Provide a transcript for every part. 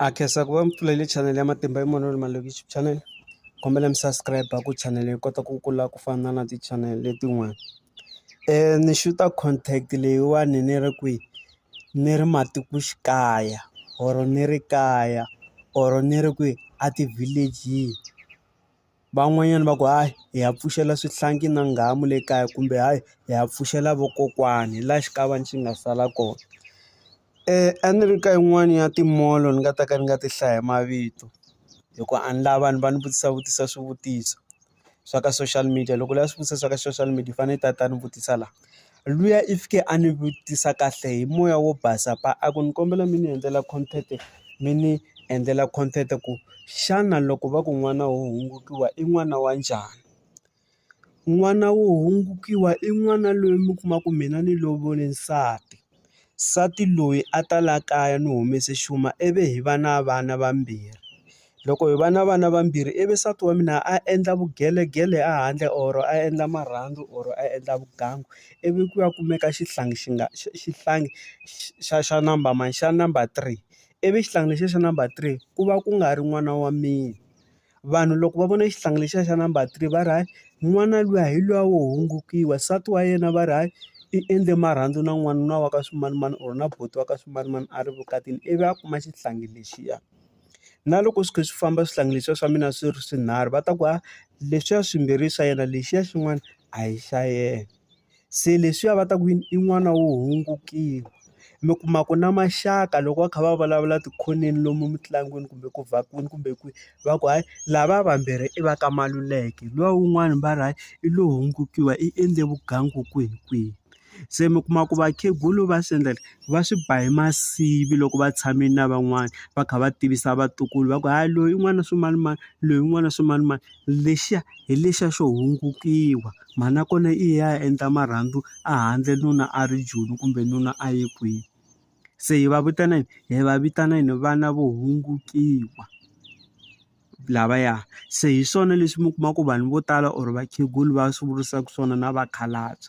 Ha khensa ku va mupfuleli channel ya matimba hi munhu malokixi channel kombela mi subscribe ku channel yi kota ku kula ku fana na ti channel letin'wana ni xuta content leyiwani ni ri kwihi ni ri matikoxikaya or ni ri kaya or ni ri kwihi a ti-village-ini. van'wanyana va ku hayi hi ya pfuxela swihlangi na nghamu le kaya kumbe hayi hi ya pfuxela vokokwani hi la xikavana xi nga sala kona a ni ri ka yin'wani ya ti-mall-o ni nga ta ka ni nga ti hlaya hi mavito hi ku a ni la vanhu va ni vutisa vutisa swivutiso swa ka social media loko u lava swivutiso swa ka social media u fane u ta ta ni vutisa la luya i fike a ni vutisa kahle hi moya wo basa pa a ku ni kombela mi ni endlela content mi ni endlela content ku xana loko va ku n'wana wo hungukiwa i n'wana wa njhani n'wana wo hungukiwa i n'wana loyi mi kuma ku mina ni lovole nsati Nsati loyi a ta la kaya ni humese xuma ivi hi va na vana vambirhi loko hi va na vana vambirhi ivi nsati wa mina a endla vugelegele a handle or a endla marhandzu or a endla vugangu ivi ku ya kumeka xihlangi xi nga xihlangi xa xa number mani xa number three ivi xihlangi lexiya xa number three ku va ku nga ri n'wana wa mina. vanhu loko va vona xihlangi lexiya xa number three va ri hayi n'wana luya hi luya wo hungukiwa nsati wa yena va ri hayi i endle marhandzu na n'wanuna wa ka swimanimani or na buti wa ka swimanimani a ri vukatini ivi a kuma xihlangi lexiya na loko swi kha swi famba swihlangi leswiya swa mina swi ri swinharhu va ta ku ha leswiya swimbirhi i swa yena lexiya xin'wana a hi xa yena. Se leswiya va ta ku yini i n'wana wo hungukile. Mi kuma ku na maxaka loko va kha va vulavula tikhoneni lomu emitlangwini kumbe ku vhakwini kumbe kwihi, va ku hayi lava vambirhi i va ka Maluleke luya wun'wana va ri hayi i lo hungukile i endle vugangu kwihi kwihi. Se mi kuma ku vakhegula va swi endla va swi ba hi masivi loko va tshame na van'wana, va kha va tivisa vatukulu va ku hayi loyi i n'wana wa swimanimani, loyi i n'wana wa swimanimani. Lexiya hi lexiya xo hungukile. Mhana kona i ya endla marhandzu a handle nuna a ri Joni kumbe nuna a ye kwini. Se hi va vitana yini? Hi va vitana yini? Vana vo hungutiwa lavaya. Se hi swona leswi mi kuma ku vanhu vo tala or vakhegula va swi vurisaka swona na vakhalabye.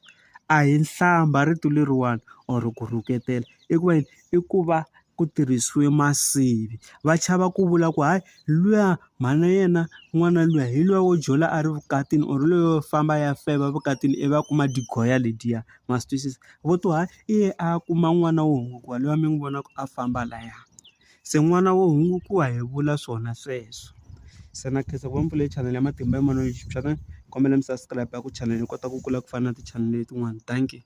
A hi hlamba rito leriwani or ku rhuketela. I ku va yini? I ku va ku tirhisiwe masivi va chava ku vula ku hayi luya mhana yena n'wana luya hi luya wo jola a ri vukatini or loyi wo famba a ya feba evukatini ivi a kuma degrees yalediya ma swi twisisa vo to hayi i ye a ya kuma n'wana wo hungutiwa luya mi n'wi vonaka a famba laya se n'wana wo hungutiwa hi vula swona sweswo se na khensa ku va mi pfule chanele ya matimba ya moya ni kombela mi subscribe ku chanele hi kota ku kula ku fana na ti-chanel letin'wana dankie.